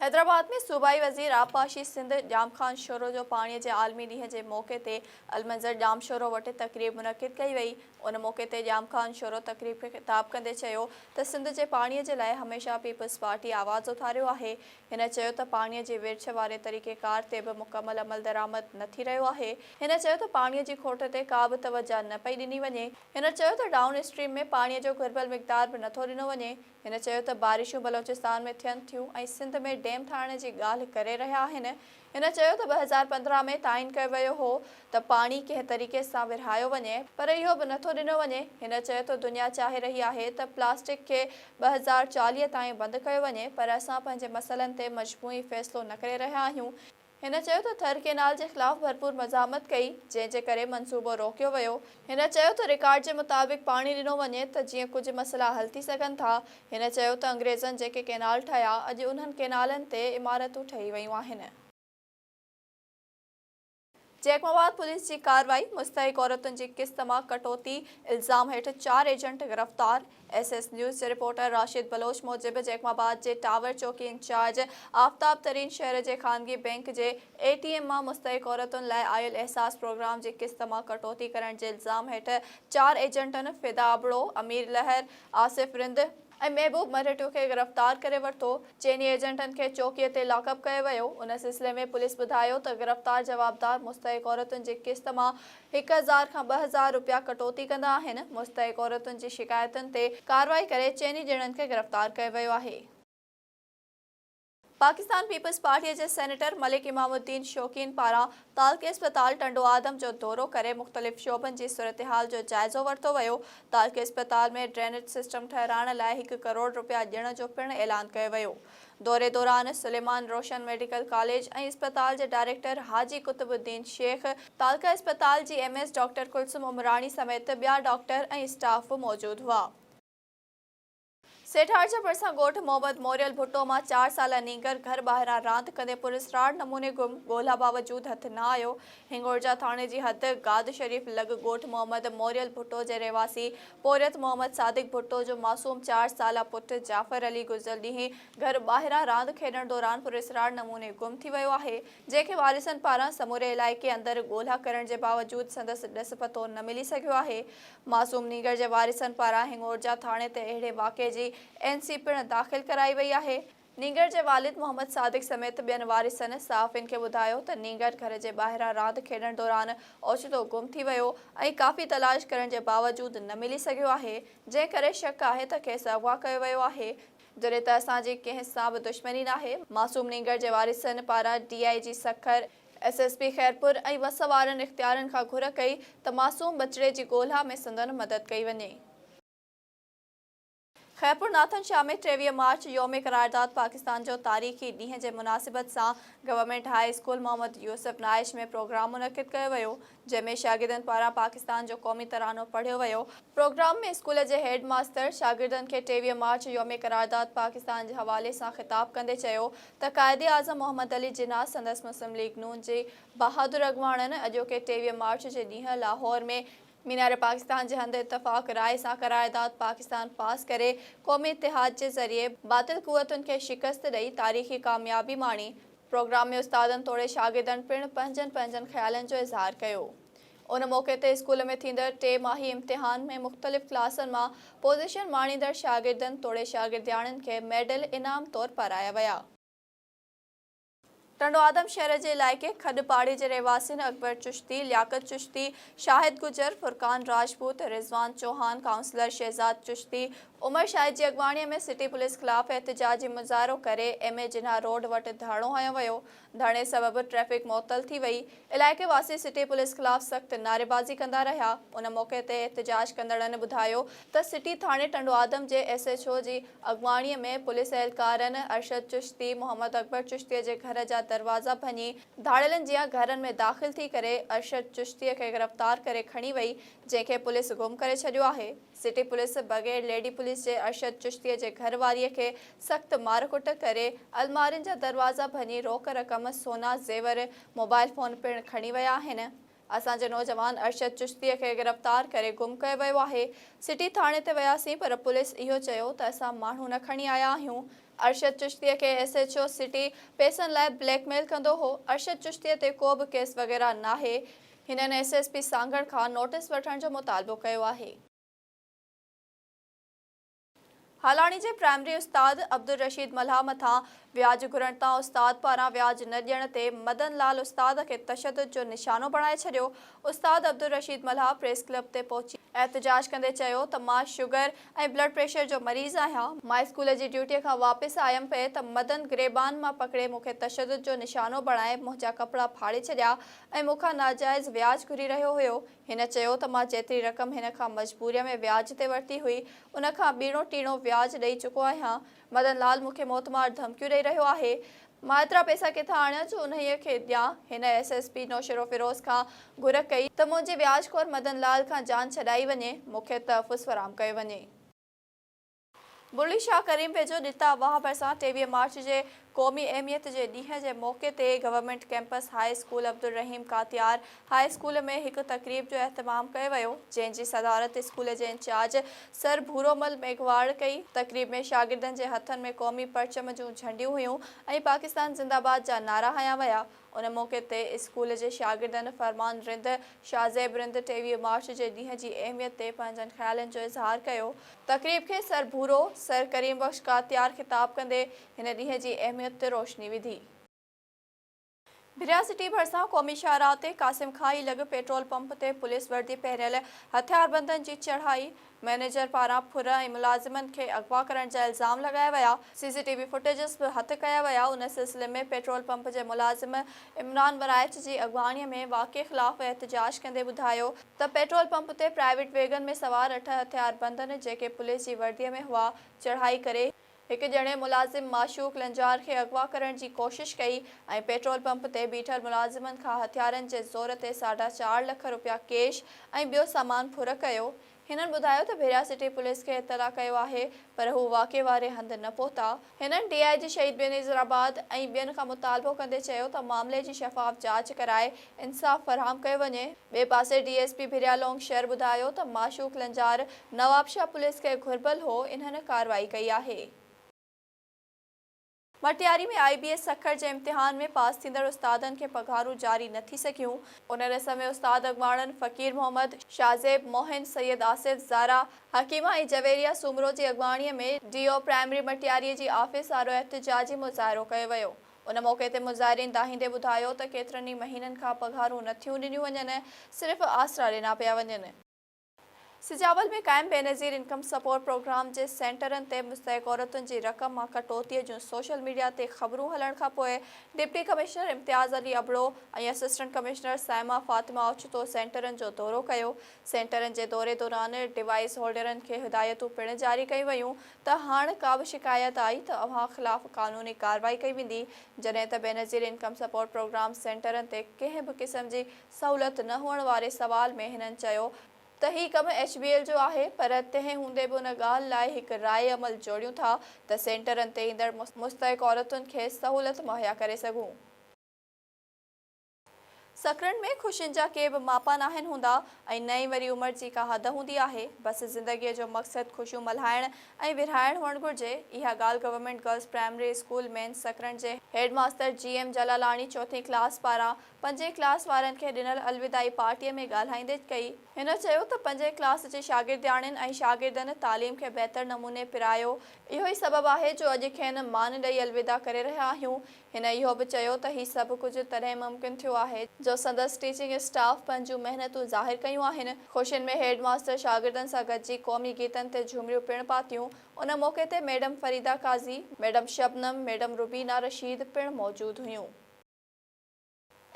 حيدرآباد ۾ صوبائي وزير آبپاشي سنڌ ڄام خان شورو جو پاڻي جي عالمي ڏينهن جي موقعي تي المنظر ڄام شورو وٽ تقريب منعقد ڪئي وئي ان موقعي تي ڄام خان شورو تقريب کي خطاب ڪندي چيو ته سنڌ جي پاڻي جي لاء هميشه پيپلز پارٽي آواز اٿاريو آهي هن چيو ته پاڻي جي ورڇ واري طريقيڪار تي به مڪمل عملدرآمد نه ٿي رهيو آهي. هن چيو ته پاڻي جي کوٽ تي ڪا به توجهه نه پئي ڏني وڃي. هن چيو ته ڊائون اسٽريم ۾ پاڻي جو گهربل مقدار به نه ٿو ڏنو وڃي. هن چيو ته بارشون بلوچستان ۾ ٿين ٿيون ۽ سنڌ ۾ ڊيم ٺاهڻ جي ڳالهه ڪري رهيا آهن، هن چيو ته ٻه هزار پندرهن ۾ تعين ڪيو ويو هو ته پاڻي ڪنهن طريقي سان ورهايو وڃي پر اهو به نٿو ڏنو وڃي، هن چيو ته دنيا چاهي رهي آهي ته پلاسٽڪ کي ٻه هزار چاليهه تائين بند ڪيو وڃي پر اسان پنهنجي مسئلن تي مجموعي فيصلو نه ڪري رهيا آهيون، هن چيو ته ٿر ڪئنال جي خلاف ڀرپور مزاحمت ڪئي جنهن جي ڪري منصوبو روڪيو ويو. هن چيو ته رڪارڊ جي مطابق پاڻي ڏنو وڃي ته جيئن ڪجهه مسئلا حل ٿي سگهن ٿا، هن چيو ته انگريزن جيڪي ڪئنال ٺاهيا اڄ انهن ڪئنالن تي عمارتون ٺهي ويون آهن. چيڪ مواد پوليس جي ڪارروائي، مستحق عورتن جي قسط مان ڪٽوتي الزام هيٺ چار ايجنٽ گرفتار. ايس ايس نيوز جي رپورٽر راشد بلوچ موجب جيڪب آباد جي ٽاور چوڪي انچارج آفتاب ترين شهر جي خانگي بئنڪ جي اي ٽي ايم مان مستحق عورتن لاء آيل احساس پروگرام جي قسط مان ڪٽوتي ڪرڻ جي الزام هيٺ چار ايجنٽن فدا ابڙو، امير لهر، آصف رند ۽ محبوب مرهٽو کي گرفتار ڪري ورتو، چئني ايجنٽن کي چوڪي تي لاڪ اپ ڪيو ويو، ان سلسلي ۾ پوليس ٻڌايو ته گرفتار جوابدار مستحق عورتن جي قسط مان هڪ هزار کان ٻه هزار روپيا ڪٽوتي ڪندا آهن، مستحق عورتن جي شڪايتن تي ڪارروائي ڪري چئني ڄڻن کي گرفتار ڪيو ويو آهي. پاڪستان پيپلز پارٽيء جي سينيٽر ملڪ امام الدين شوقين پاران تعلقي اسپتال ٽنڊو آدم جو دورو ڪري مختلف شعبن جي صورتحال جو جائزو ورتو ويو، تعلقي اسپتال ۾ ڊرينيج سسٽم ٺهرائڻ لاء هڪ ڪروڙ روپيا ڏيڻ جو پڻ اعلان ڪيو ويو. دوري دوران سليمان روشن ميڊيڪل ڪاليج ۽ اسپتال جي ڊائريڪٽر حاجي قطب الدين شيخ، تعلقه اسپتال جي M S doctor Kulsoom Umrani سميت ٻيا ڊاڪٽر ۽ اسٽاف به موجود هئا. سيٺارجه ڀرسان ڳوٺ محمد موريل ڀٽو مان چار سالا نينگر گهر ٻاهران راند ڪندي پراسرار نموني گم ڳولها باوجود هٿ نه آيو، هنڱورجا ٿاڻي جي حد گاد شريف لڳ ڳوٺ محمد موريل ڀٽو جي رهواسي پورهيت محمد صادق ڀٽو جو معصوم چار سالا پٽ جعفر علي گذريل ڏينهن گهر ٻاهران راند کيڏڻ دوران پراسرار نموني گم ٿي ويو آهي جنهن کي وارثن پاران سموري علائقي اندر ڳولها ڪرڻ جي باوجود سندس ڏس پتو نه ملي سگهيو آهي معصوم نينگر جي وارثن پاران هنڱورجا ٿاڻي تي اهڙي واقعي جي اين سي پڻ داخل ڪرائي وئي آهي. نينگر جي والد محمد صادق سميت ٻين وارثن صحافين کي ٻڌايو ته نينگر گهر جي ٻاهران راند کيڏڻ دوران اوچتو گم ٿي ويو ۽ ڪافي تلاش ڪرڻ جي باوجود نه ملي سگهيو آهي جنهن ڪري شڪ آهي ته کيس اغوا ڪيو ويو آهي جڏهن ته اسان جي ڪنهن سان به دشمني ناهي. معصوم نينگر جي وارثن پاران D I G Sukkur, S S P Khairpur ۽ وس وارن اختيارين کان گهر ڪئي ته معصوم ٻچڙي جي ڳولها ۾ سندن مدد ڪئي وڃي. خيرپور ناٿن شاهه ۾ ٽيويهه مارچ يوم قرارداد پاڪستان جو تاريخي ڏينهن جي مناسبت سان government high school Muhammad Yousuf Naich ۾ programme منعقد ڪيو ويو جنهن ۾ شاگردن پاران پاڪستان جو قومي ترانو پڙهيو ويو. پروگرام ۾ اسڪول جي هيڊ ماستر شاگردن کي ٽيويهه مارچ يوم قرارداد پاڪستان جي حوالي سان خطاب ڪندي چيو ته قائد اعظم محمد علي جناح سندس مسلم ليگ نون جي بهادر اڳواڻن اڄوڪي ٽيويهه مارچ جي ڏينهن لاهور ۾ مينار پاڪستان جي هنڌ اتفاق راء سان قرارداد پاڪستان پاس ڪري قومي اتحاد جي ذريعي باطل قوتن کي شڪست ڏئي تاريخي ڪاميابي ماڻي، پروگرام ۾ استادن توڙي شاگردن پڻ پنهنجن پنهنجن خيالن جو اظهار ڪيو. ان موقعي تي اسڪول ۾ ٿيندڙ ٽي ماهي امتحان ۾ مختلف ڪلاسن مان پوزيشن ماڻيندڙ شاگردن توڙي شاگردياڻين کي ميڊل انعام طور پارايا ويا. ٽنڊو آدم شهر جي علائقي کڏ پاڙي جي رهواسين اڪبر چشتي، لياقت چشتي، شاهد گجر، فرقان راجپوت، رضوان چوهان، ڪائونسلر شهزاد چشتي، عمر شاهد جي اڳواڻي ۾ سٽي پوليس خلاف احتجاجي مظاهرو ڪري ايم اي جناح روڊ وٽ ڌرڻو هنيو ويو، ڌرڻي سبب ٽريفڪ معطل ٿي وئي. علائقي واسي سٽي پوليس خلاف سخت نعريبازي ڪندا رهيا، ان موقعي تي احتجاج ڪندڙن ٻڌايو ته سٽي ٿاڻي ٽنڊوآدم جي ايس ايڇ او جي اڳواڻي ۾ پوليس اهلڪارن ارشد چشتي، محمد اڪبر چشتي جي گهر جا دروازا ڀڃي ڌاڙيلن جيان گهرن ۾ داخل ٿي ڪري ارشد چشتي کي گرفتار ڪري کڻي وئي جنهن کي پوليس گم ڪري ڇڏيو آهي. سٽي پوليس بغير ليڊي پوليس جي ارشد چشتيء جي گهر واريء کي سخت مارڪٽ ڪري المارين جا دروازا ڀڃي روڪ رقم، سونا، زيور، موبائل فون پڻ کڻي ويا آهن. اسان جي نوجوان ارشد چشتيء کي گرفتار ڪري گم ڪيو ويو آهي. سٽي ٿاڻي تي وياسين پر پوليس اهو چيو ته اسان ماڻهو نه کڻي آيا آهيون. ارشد چشتيء کي ايس ايڇ او سٽي پئسن لاء بليڪ ميل ڪندو هو. ارشد چشتيء تي ڪو به ڪيس وغيره ناهي. هنن ايس ايس پي سانگهڙ کان نوٽيس وٺڻ جو مطالبو ڪيو آهي. هالاڻي جي پرائمري استاد عبدالرشيد ملاح مٿان وياج گهرڻ تان استاد پاران وياج نه ڏيڻ تي مدن لال استاد کي تشدد جو نشانو بڻائي ڇڏيو، استاد عبدالرشيد ملاح پريس ڪلب تي پهچي احتجاج ڪندي چيو ته مان شگر ۽ بلڊ پريشر جو مريض آهيان، مان اسڪول جي ڊيوٽي کان واپس آيم پئي ته مدن گريبان مان پڪڙي مون کي تشدد جو نشانو بڻائي منهنجا ڪپڙا ڦاڙي ڇڏيا، ۽ مون کان ناجائز وياج گهري رهيو هيو. هن چيو ته مان جيتري رقم هن کان مجبوريء ۾ وياج تي ورتي هئي، ان کان ٻيڻو ٽيڻو وياج ڏئي چڪو آهيان. مدن لال مون کي موت مار ڌمڪيون ڏئي رهيو آهي. مان ايترا پئسا ڪٿان آڻيان جو انهيء کي ڏيان. هن ايس ايس پي نوشيروفيروز کان گهر ڪئي ته منهنجي وياج خور مدن لال کان جان ڇڏائي وڃي، مون کي تحفظ فراهم ڪيو وڃي. مرلي شاهه ڪريم ويجهو، ڏتا واهه ڀرسان ٽيويهه مارچ جي قومي اهميت جي ڏينهن جي موقعي تي government campus high school Abdul Rahim Katiar high school ۾ هڪ تقريب جو اهتمام ڪيو ويو جنهن جي صدارت اسڪول جي انچارج سر ڀورومل ميگهواڙ ڪئي تقريب ۾ شاگردن جي هٿن ۾ قومي پرچم جون جهنڊيون هيون ۽ پاڪستان زنده باد جا نعرا هنيا ويا ان موقعي تي اسڪول جي شاگردن فرمان رند شاهه زيب رند ٽيويهه مارچ جي ڏينهن جي اهميت تي پنهنجن خيالن جو اظهار ڪيو. تقريب کي سر ڀورو سر ڪريم بخش ڪاتيار خطاب ڪندي هن ڏينهن جي اهميت تي روشني وڌي. ڀريا سٽي ڀرسان قومي شاهراهه تي قاسم کان ئي لڳ پيٽرول پمپ تي پوليس وردي پهريل هٿياربندن جي چڙهائي، مئنيجر پاران ڦر ۽ ملازمن کي اغوا ڪرڻ جا الزام لڳايا ويا، C C T V footages به هٿ ڪيا ويا، ان سلسلي ۾ پيٽرول پمپ جي ملازم عمران ٻرائچ جي اڳواڻي ۾ واقعي خلاف احتجاج ڪندي ٻڌايو ته پيٽرول پمپ تي پرائيويٽ ويگن ۾ سوار اٺ هٿياربندن جيڪي پوليس جي وردي ۾ هئا چڙهائي ڪري هڪ ڄڻي ملازم معشوق لنجار کي اغوا ڪرڻ جي ڪوشش ڪئي ۽ پيٽرول پمپ تي بيٺل ملازمن کان هٿيارن جي زور تي ساڍا چار لک رپيا ڪيش ۽ ٻيو سامان ڦر ڪيو. هنن ٻڌايو ته ڀيريا سٽي پوليس کي اطلاع ڪيو آهي پر هو واقعي واري هنڌ نه پهتا. هنن ڊي آء جي شهيد بينظير آباد ۽ ٻين کان مطالبو ڪندي چيو ته معاملي جي شفاف جاچ ڪرائي انصاف فراهم ڪيو وڃي. ٻئي پاسي D S P Bhiria Loung شهر ٻڌايو ته معشوق لنجار نوابشاهه پوليس کي گهربل هو انهن ڪارروائي ڪئي آهي. Matiari ۾ I B S Sukkur جي امتحان ۾ پاس ٿيندڙ استادن کي پگهارون جاري نه ٿي سگهيون، ان ريس ۾ استاد اڳواڻن فقير محمد، شاهزيب، موهن، سيد آصف، زارا، حڪيمه ۽ جويريا سومرو جي اڳواڻي ۾ ڊي او پرائمري مٽياري جي آفيس آڏو احتجاجي مظاهرو ڪيو ويو. ان موقعي تي مظاهرين دانهيندي ٻڌايو ته ڪيترن ئي مهينن کان پگهارون نه ٿيون ڏنيون وڃن، صرف آسرا ڏنا پيا وڃن. سجاول ۾ قائم بينظير انڪم سپورٽ پروگرام جي سينٽرن تي مستحق عورتن جي رقم مان ڪٽوتيء جون سوشل ميڊيا تي خبرون هلڻ کان پوء deputy commissioner Imtiaz Ali Abro ۽ assistant commissioner Saima Fatima اوچتو سينٽرن جو دورو ڪيو. سينٽرن جي دوري دوران ڊوائيس هولڊرن کي هدايتون پڻ جاري ڪيون ويون ته هاڻ ڪابه شڪايت آئي ته اوهان خلاف قانوني ڪارروائي ڪئي ويندي جڏهن ته بينظير انڪم سپورٽ پروگرام سينٽرن تي ڪنهن به قسم جي سهولت نه هئڻ واري سوال ۾ هنن چيو ته هي ڪم ايڇ بي ايل جو آهي پر تنهن هوندي به ان ڳالهه لاء هڪ راء عمل جوڙيون ٿا ته سينٽرن تي ايندڙ مستحق عورتن کي سهولت مهيا ڪري سگهون. سکرن ۾ خوشين جا ڪي به ماپا ناهن هوندا ۽ نه ئي وري عمر جي ڪا حد هوندي آهي. بس زندگيء جو مقصد خوشيون ملهائڻ ۽ ورهائڻ هئڻ گهرجي. اها ڳالهه گورنمينٽ گرلس پرائمري اسڪول مين سکرن جي head master G M Jalalani چوٿين ڪلاس پاران پنجين ڪلاس وارن کي ڏنل الوداعي پارٽيء ۾ ڳالهائيندي ڪئي. هن چيو ته پنجين ڪلاس جي شاگردياڻين ۽ شاگردن تعليم کي بهتر نموني پرايو، اهو ئي سبب آهي جو اڄ کين مان ڏئي الوداع ڪري رهيا آهيون. هن اهو به چيو ته هي سڀ ڪجهه تڏهن ممڪن ٿيو آهي جو سندس ٽيچنگ اسٽاف پنهنجون محنتون ظاهر ڪيون آهن، خوشين ۾ هيڊ ماستر شاگردن سان گڏجي قومي گيتن تي جهومريون پڻ پاتيون، ان موقعي تي madam Farida Qazi, madam Shabnam, madam Rubina Rasheed پڻ موجود هيون.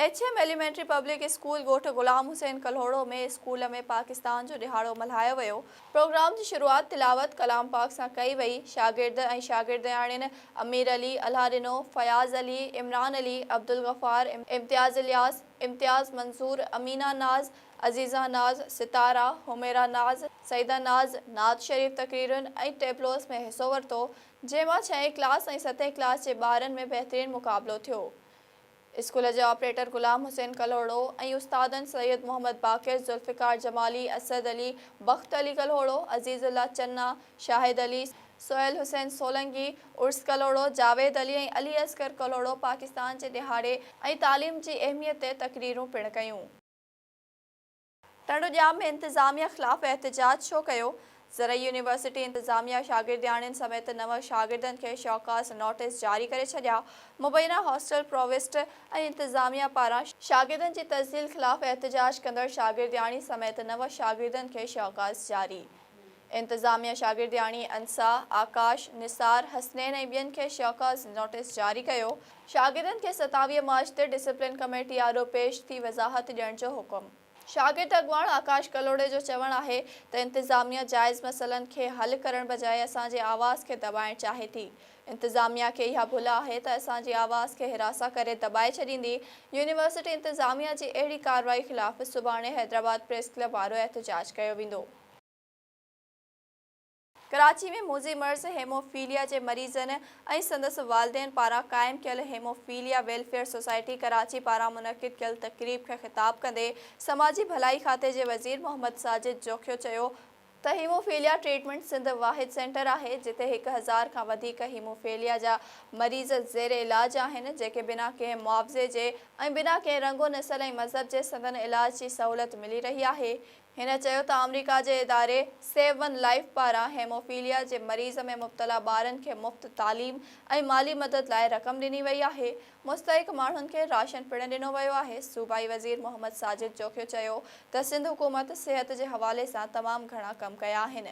H M elementary public school ڳوٺ غلام حسين ڪلهوڙو ۾ اسڪول ۾ پاڪستان جو ڏهاڙو ملهايو ويو، پروگرام جي شروعات تلاوت ڪلام پاڪ سان ڪئي وئي، شاگرد ۽ شاگردياڻين امير علي، الهه ڏنو، فياض علي، عمران علي، عبدالغفار، امتياز الياس، امتياز منظور، امينه ناز، عزيزه ناز، ستاره، حميره ناز، سعيده ناز، نعت شريف تقريرن ۽ ٽيبلوز ۾ حصو ورتو، جنهن مان ڇهين ڪلاس ۽ ستين ڪلاس جي ٻارن ۾ بهترين مقابلو ٿيو. اسڪول جي آپريٽر غلام حسين ڪلهوڙو ۽ استادن سيد محمد باقر، ذوالفقار جمالي، اسد علي، بخت علي ڪلهوڙو، عزيز الله چنا، شاهد علي، سهيل حسين سولنگي، عرس ڪلهوڙو، جاويد علي ۽ علي اصغر ڪلهوڙو پاڪستان جي ڏهاڙي ۽ تعليم جي اهميت تي تقريرون پڻ ڪيون. تڙوڄام ۾ انتظاميه خلاف احتجاج ڇو ڪيو؟ زرعي يونيورسٽي انتظاميه شاگردياڻين سميت نو شاگردن کي شوڪاز نوٽيس جاري ڪري ڇڏيا، مبينا هاسٽل پرووسٽ ۽ انتظاميه پاران شاگردن جي تذليل خلاف احتجاج ڪندڙ شاگردياڻي سميت نو شاگردن کي شوڪاز جاري. انتظاميه شاگردياڻي انسا، آڪاش، نثار، حسنين ۽ ٻين کي شوڪاز نوٽيس جاري ڪيو، شاگردن کي ستاويهه مارچ تي ڊسپلين ڪميٽي آڏو پيش ٿي وضاحت ڏيڻ جو حڪم. شاگرد اڳواڻ آڪاش ڪلهوڙي جو چوڻ آهي ته انتظاميه جائز مسئلن کي حل ڪرڻ بجاء اسان جي آواز کي دٻائڻ چاهي ٿي، انتظاميه کي اها ڀل آهي ته اسان جي آواز کي حراسان ڪري دٻائي ڇڏيندي، يونيورسٽي انتظاميه جي اهڙي ڪارروائي خلاف سڀاڻي حيدرآباد پريس ڪلب وارو احتجاج ڪيو ويندو. ڪراچي ۾ موذي مرض هيموفيليا جي مريضن ۽ سندس والدين پاران قائم ڪيل هيموفيليا ويلفيئر سوسائٽي ڪراچي پاران منعقد ڪيل تقريب کي خطاب ڪندي سماجي ڀلائي کاتي جي وزير محمد ساجد جوکيو چيو ته هيموفيليا ٽريٽمينٽ سنڌ واحد سينٽر آهي جتي هڪ هزار کان وڌيڪ هيموفيليا جا مريض زير علاج آهن جيڪي بنا ڪنهن معاوضي جي ۽ بنا ڪنهن رنگ و نسل ۽ مذهب جي سندن علاج جي سهولت ملي رهي آهي هن چيو ته آمريڪا جي اداري سيو ون لائيف پاران هيموفيليا جي مريض ۾ مبتلا ٻارن کي مفت تعليم ۽ مالي مدد لاء رقم ڏني وئي آهي، مستحق ماڻهن کي راشن پڻ ڏنو ويو آهي، صوبائي وزير محمد ساجد جوکيو چيو ته سنڌ حڪومت صحت جي حوالي سان تمام گهڻا ڪم ڪيا آهن.